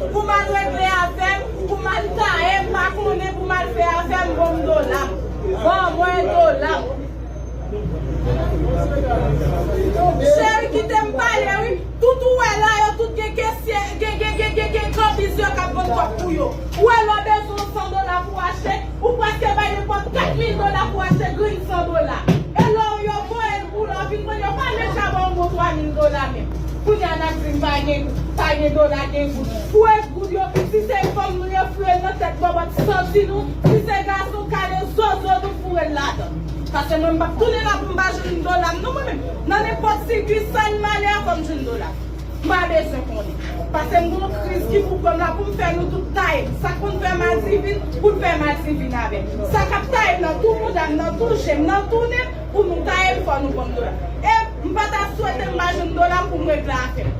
Ou pou mal regle avèm ou pou mal taem pa konnen pou mal fè avèm bonm dolam ban mwen dolam Cheri kitem pale wi tout ou wè la yo tout gen kesye gen gen gen gen gen kanbiz yo kap vann kòk pou yo ou wè lè w bezwen yon 100 dola pou achte Ou preske bay nenpòt 4 mil dola pou achte grenn san dola. E lò ou yo voye l pou l an vin vann yo pa menm ka ba w bon 3 mil dola menm. Kounye a n ap di n pa gen pa gen dola gen goud. Pou es goud yo si se fanm nou yo foure l nan tèt bòbòt santi nou si se gason kale zozo nou foure l ladan. Pase mwen m p ap tounen la pou m pa jwenn dola m non mwen menm. Nan nenpòt sikisal malè a fò m jwenn dola m. Pa bezwen konnen. Pase m gen yon kriz ki pou pran m la pou m fè nou tout taye m. Sa k konn fè madivin pou l fè madivin avè m. Sa k ap taye m nan tou mouda m, nan tou je m, nan tou nen m pou nou taye m fò nou ban m dola. E m pa ta swete m pa jwenn dola m pou m regle afè m.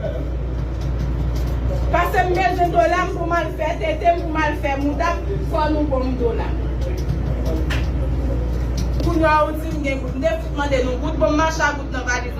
Pase m bezwen dola m pou m al fè tete m, pou m al fè mouda m fò nou ban m dola. Kounya ou di m gen goud. M te fout mande nou goud. Bon m mache a goud nan valiz mwen.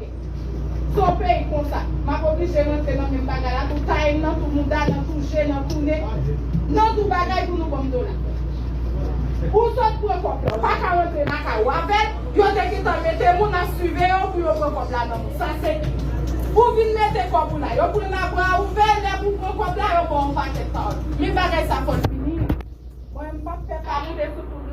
Se yon peyi konsa. Map oblije rantre nan menm bagay la tou, taye m nan tou mouda, nan tou je, nan tou ne, nan tou bagay pou nou banm dola. Ou sot pran kòb la, ou pa ka rantre lakay ou avèl, yo te gentan mete moun ap siveye w pou yo pran kòb la nan moun. Sa se Ou vin mete kòb ou la, yo pran l a bra ouvè, lè pou w pran kòb la yo ba w yon pakèt pawòl. Men bagay sa fò l fini. Mwen menm m pap fè sa non, se sou tout.